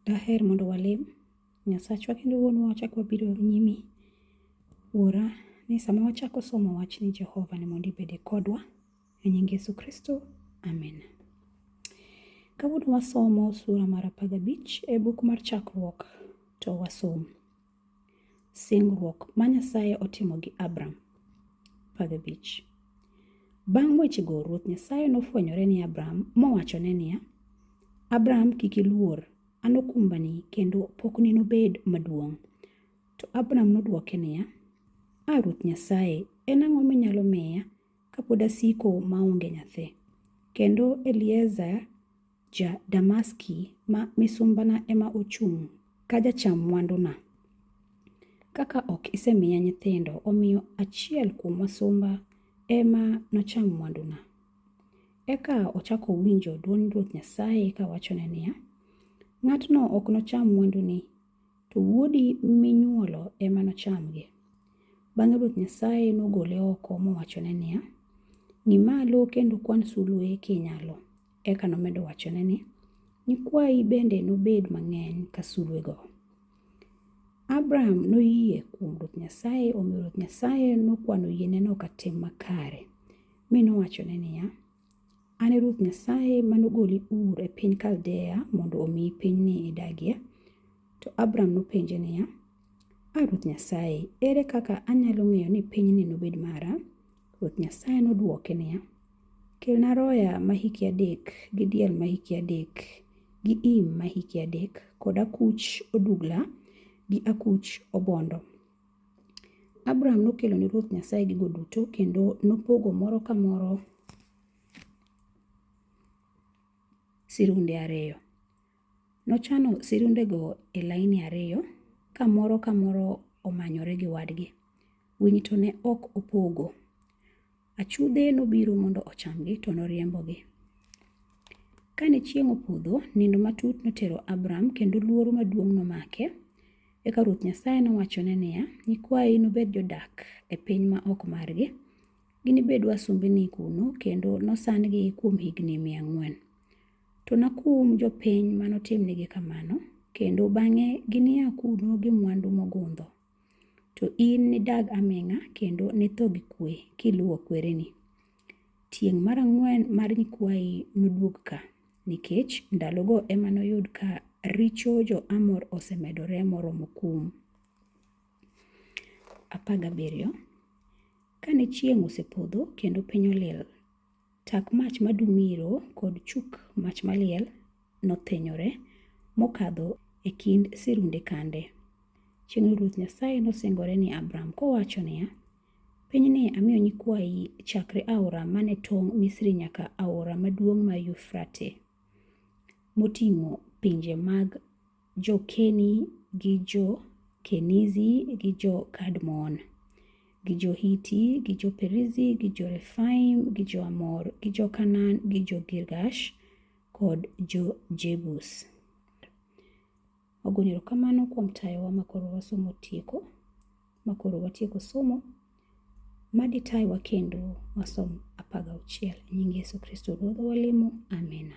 Daher mondo walem Nyasachwa kendo Wuonwa wachak wabiro nyimi. Wuora, ni sama wachako somo wachni Jehova ni mondo ibede kodwa. E nying Yesu Kristo, amen. Kawuono wasomo sura mar apar gabich e buk mar Chakruok to wasom. Singruok ma Nyasaye otimo gi Abram. Pagabich. Bang' wechego, Ruoth Nyasaye nofwenyore ni Abram mowachone niya, Abram kik iluor, an okumbani kendo pokni nobed maduong'. To Abram nodwoke niya, A Ruoth Nyasaye, en ang'o minyalo miya kapod asiko maonge nyathi? Kendo Eliezer Ja-Damaski ma misumbana ema ochung' ka jacham mwanduna. Kaka ok isemiya nyithindo, omiyo achiel kuom wasumba ema nocham mwanduna. Eka ochako winjo dwond Ruoth Nyasaye kawachone niya, Ng'atno ok nocham mwanduni, to wuodi minyuolo ema nochamgi. Bang'e Ruoth Nyasaye nogole oko mowachone niya, Ng'i malo kendo kwan sulwe kinyalo. Eka nomedo wachone ni, Nyikwayi bende nobed mang'eny ka sulwego. Abram noyie kuom Ruoth Nyasaye, omiyo Ruoth Nyasaye nokwano yieneno ka tim makare, mi nowachone niya, An e Ruoth Nyasaye ma nogoli Ur e piny Kaldea mondo omiyi pinyni idagie. To Abram nopenje niya, A Ruoth Nyasaye, ere kaka anyalo ng'eyo ni pinyni nobed mara? Ruoth Nyasaye nodwoke niya, Kelna roya ma hike adek, gi diel ma hike adek, gi im ma hike adek, kod akuch odugla gi akuch obondo. Abram nokelo ne Ruoth Nyasaye gigo duto kendo nopogo moro ka moro sirunde ariyo. Nochano sirundego e laini ariyo ka moro ka moro omanyore gi wadgi. Winy to ne ok opogo. Achudhe nobiro mondo ochamgi to noriembogi. Kane chieng' opodho, nindo matut notero Abram kendo luoro maduong' nomake. Eka Ruoth Nyasaye nowachone niya, Nyikwayi nobed jodak e piny ma ok margi. Ginibed wasumbini kuno kendo nosan-gi kuom higni mia ang'wen. To nakum jopiny ma notimnigi kamano, kendo bang'e ginia kuno gi mwandu mogundho. To in nidag aming'a kendo nitho gi kwe kiluwo kwereni. Tieng' mar ang'wen mar nyikwayi noduog ka, nikech ndalogo ema noyud ka richo jo-Amor osemedore moromo kum. 17 Kane chieng' osepodho kendo piny olil, Tak mach ma dumiro kod chuk mach maliel nothinyore mokadho e kind sirunde kande. Chieng'no Ruoth Nyasaye nosingore ni Abram kowacho niya, Pinyni amiyo nyikwayi chakre aora mane tong' Misri nyaka aora maduong' mar Yufrate, moting'o pinje mag Jo-Keni gi Jo-Kenizi gi Jo-Kadmon gi Jo-Hiti gi Jo-Perizi gi Jo-Refaim gi Jo-Amor gi Jo-Kanaan gi Jo-Girgash kod Jo-Jebus. Wagoyo erokamano kuom tayowa ma koro wasomo tieko, ma koro watieko somo. Ma ditayowa kendo wasom apar gauchiel. E nying Yesu Kristo Ruodhwa walemo, amina.